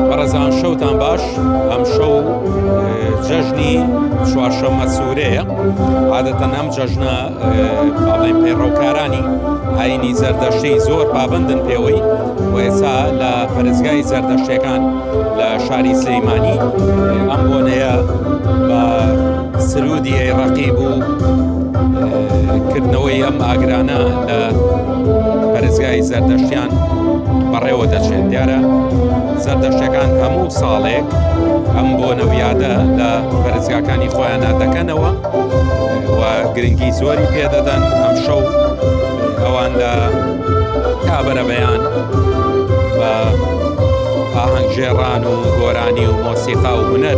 بەڕێزان شەوتان باش ئەم شەو جەژنی چوارشەمە سوورەیە عادەتەن ئەم جەژنە باڵێن پەیڕەوکارانی ئاینی زەردەشتی زۆر پابندن پێوەی وێسا لە پەرزگای زەردەشتەکان لە شاری سلەیمانی ئەم بۆنەیە بە سرودی ئەی ڕەقیب و کردنەوەی ئەم ئاگرانە لە پەرزگای زەردەشتیان بەڕێوە دەچێت دیارە زەردەشتەکان هەموو ساڵێک ئەم بۆ نەویادە لە پەرزگاکانی خۆیانە دەکەنەوە و گرنگی زۆری پێدەدەن ئەم شەو ئەوان لە کابرە بەیان بە ئاهەنگژێڕان و گۆرانی و مۆسیقا و هوەر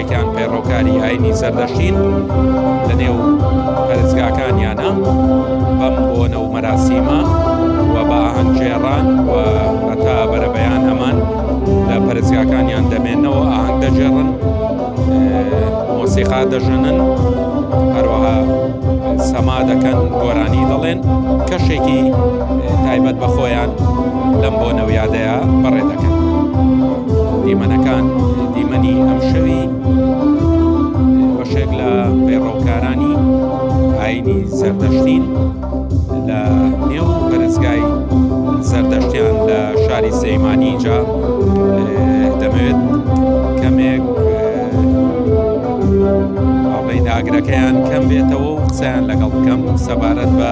یەکێکیان پەیڕەوکاری ئاینی زەردەشتین لە نێو پەرستگاکانیانە بەم بۆنە و مەراسیمە و بە ئاهەنگگێڕان و هەتا بەرەبەیان ئەمان لە پەرستگاکانیان دەمێنەوە ئاهەنگ دەجێڕن مۆسیقا دەژەنن هەروەها سەما دەکەن گۆرانی دەڵێن کەشێکی تایبەت بە خۆیان لەم بۆ نەویادەیە بەڕێ دەکەن. دیمەنەکان دیمەنی ئەمشەوی بەشێک لە پەیڕەوکارانی ئاینی زەردەشتین لە نێو پەرستگای زەردەشتیان لە شاری سەیمانی اینجا دەمەوێت کەمێک ئاڵین ئاگرەکەیان کەم بێتەوە و قسەیان لەگەڵ بکەم سەبارەت بە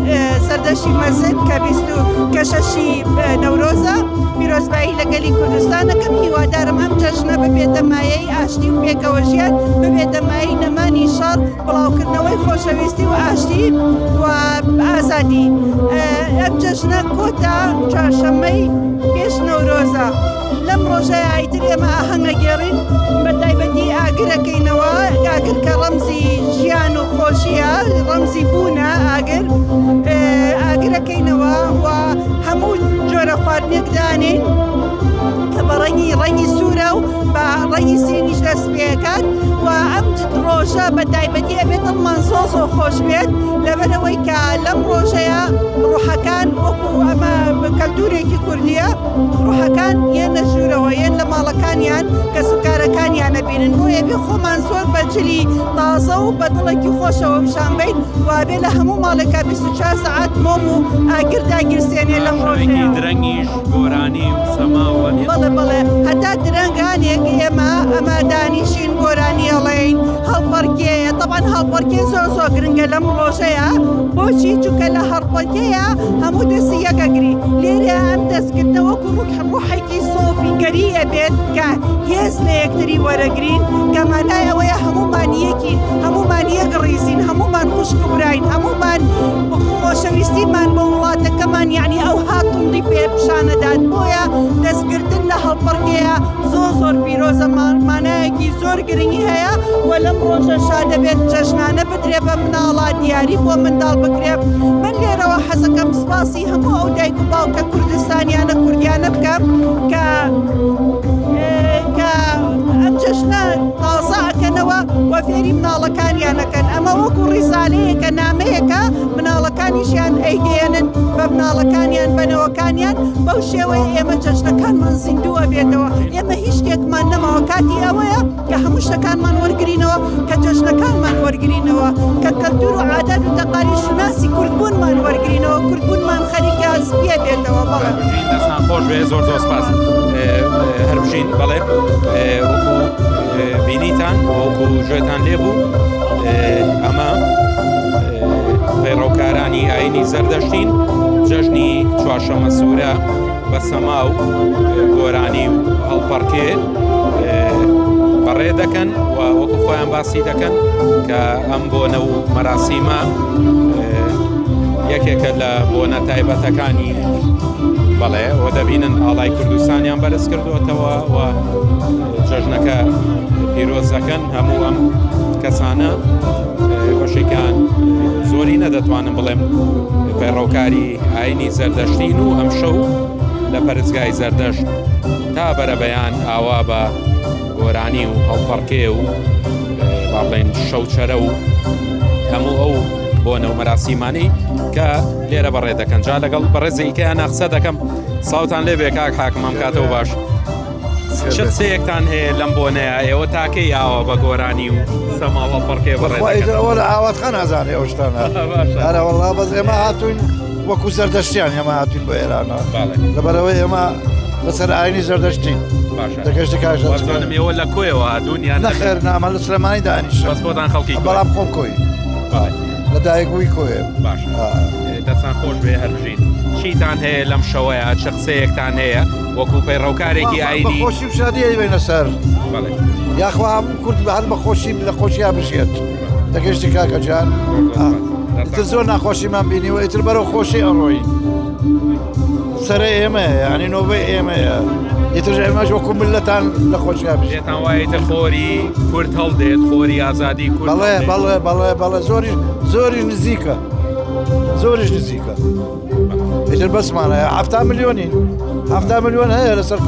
سەردەشتی مەزن کە بیست و کە شەشی نەورۆزە پیرۆزبایی لە گەلی کوردستان دەکەم هیوادارم ئەم جەژنە ببێتە مایەی ئاشتی و پێکەوە ژیان ببێتە مایەی نەمانی شەڕ بڵاوکردنەوەی خۆشەویستی و ئاشتی و ئازادی ئەم جەژنە کۆتا چوارشەممەی پێش نەورۆزە. لەم ڕۆژە ئایتر ئێمە ئاهەنگەگێڕین بە تایبەتی ئاگرەکەینەوە ئاگر کە ڕەمزی ژیان و خۆشیە ڕەمزی بوونە ئاگر ئاگرەکەینەوە و هەموو جۆرە خواردنێک دانین کە بە ڕەنگی ڕەنگی سوورە و بە ڕەنگی سینیش دەست پێکات و ئەم ڕۆژە بە تایبەتی ئەبێت ئەممان زۆ زۆ خۆش بێت لەبەرەوەی کە لەم ڕۆژەیە ڕوحەکان وەکو ئەمە کەلتورێکی کوردیە. ڕوحەکان یەن لە ژوورەوە یەن لە ماڵەکانیان کەس و کارەکانیان نەبینن بۆیە بێ خۆمان زۆر بە جلی تازە و بە دڵێکی خۆشەوە پیشان بین وابێ لە هەموو ماڵێکا 24 سەعات مۆم و ئاگر داگیرسێنێ لەم ڕۆژەیە ڕەنگی درەنگیش گۆرانی و سەما و ئەنیل بەڵێ بەڵێ هەتا درەنگانێک ئێمە ئەمە دانیشین گۆرانی ئەڵێین هەڵپەڕکێ تەبعەن هەڵپەڕکێ زۆر زۆر گرنگە لەم ڕۆژەیا بۆچی چونکە لە هەڵپە یەکەیە هەموو دەستی یەکەگری لێرە ئەم دەستکردە وەکو ڕوک ڕوحێکی سۆفیگەریە بێت کە هێز لە یەکتری وەرەگرین کەمانای ئەوەیە هەمومان یەکین هەمومان یەک ڕیزین هەمومان خوشک و براین هەمومان خۆشەویستیمان بۆ وڵاتەکەمان یعنی ئەو هاتوندی پێ پیشانەدات بۆیە دەستگرتن لە هەڵپەڕکەیە زۆر زۆر پیرۆزە مانایەکی زۆر گرنگی هەیە و لەم ڕۆژە شادەبێت جەژنانە بدرێ بە مناڵا دیاری بۆ منداڵ بکرێت من لێرەوە حەزەکەم سپاسی هەموو ئەو دایک و باوکە کوردستانیانە کوردیانە بکەم کە کە ئەم جەشنە تازەکەنەوە وە فێری مناڵەکانیانەکەن ئەمە وەکو ڕیزالەیەکە نامەیەەکە مناڵەکانیشیان ئەیگەێنن بە مناڵەکانیان بەنەوەکانیان بەو شێوەیە ئێمە جەشنەکانمان زیندووە بێتەوە ئێمە هیچ شتێکمان نەماوە کاتی ئەوەیە کە هەموو شتەکانمان وەرگرینەوە کە جەژنەکانمان وەرگرینەوە کە کەلتور و عادات و تەقالی شوناسی کوردبوونمان وەرگرینەوە کوردبوونمان خەریکە سپیە بێتەوە بەڵێ دەستان خۆش بێ زۆر زۆر سپاس هەربژین بەڵێ وەکو بینیتان وەکو ژێتان لێ بوو ئەمە پەیڕەوکارانی ئاینی زەردەشتین جەژنی چوارشەمە سوورە بە سەما و گۆرانی و هەڵپەڕکێ بەڕێ دەکەن و وەکو خۆیان باسی دەکەن کە ئەم بۆنە و مەراسیمە یەکێکە لە بۆنە تایبەتەکانی بەڵێ و دەبینن ئاڵای کوردستانیان بەرز کردوەتەوە و جەژنەکە پیرۆزەکەن هەموو ئەم کەسانە بەشێکان زۆری نەدەتوانم بڵێم پەیڕەوکاری ئاینی زەردەشتین و ئەمشەو لە پەرستگای زەردەشت تا بەرەبەیان ئاوا بە گۆرانی و هەڵپەڕکێ و با بڵێن شەوچەرە و هەموو ئەو بۆنە و مەراسیمانی کە لێرە بەڕێ دەکەن جا لەگەڵ بەڕێزیکەیان ناقسە دەکەم ساوتان لێ بێ کاک حاکمم کاتەوە باش چ قسەیەکتان هەیە لەم بۆنەیە ئێوە تاکەی ئاوا بە گۆرانی و سەماڵە پڕکێ بەڕێ ئەوە لە ئاوات خان ئازانێ ئەو شتانە هەرە وەڵا بەس ئێمە هاتوین وەکو زەردەشتیان ئێمە هاتوین بە ئێرانە لەبەرەوە ئێمە لەسەر ئاینی زەردەشتین دەگەشتی کاشدانم ئێوە لە کۆیەوە هاتوون یان نەخێر نامە لە سلێمانی دانیش بەس بۆتان خەڵکی بەڵام خۆم کۆی لە دایکبووی کۆێ باش دەستان خۆش بێ هەرژین چیتان هەیە لەم شەوەیە چ قسەیەکتان هەیە وەکو پەیڕەوکارێکی ئاینی خۆشی و شادی ئەیوێنە سەر یاخوا هەموو کورد بە هەر بە خۆشی لە خۆشییا بژێت دەگەشتی کاکە جان تر زۆر ناخۆشیمان بینیوە ئیتر بەرەو خۆشی ئەڕۆی سرە ئێمە ینی نۆبەی ئێمەیە ئیتر ئێمەش وەکو ملەتان لە خۆشیا بژێتان وایە تر خۆری کورد هەڵدێت خۆری ئازادی کورد بەڵێ بەڵێ بەڵێ بەڵێ زۆری زۆری نزیکە زۆریش نزیکە. ئیتر بەسمانە هەفتا ملیۆنی هەفتا ملیۆن هەیە لەسەر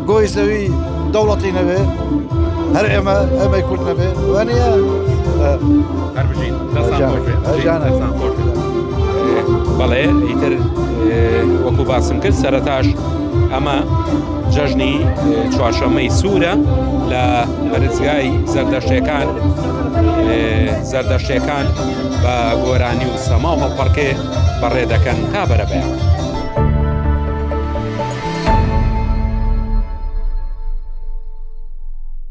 گۆی زەوی دەوڵەتی نەبێ هەر ئێمە ئەمەی کورد نەبێ وانە بەڵێ ئیتر وەکو باسم کرد سەرتاش ئەمە جەژنی چوارشەمەی سوورە لە پەرزگای زەردەشتەکان زەردەشتەکان بە گۆرانی و سەما هەڵپەڕکێ بەڕێ دەکەن تا بەرەبەیان.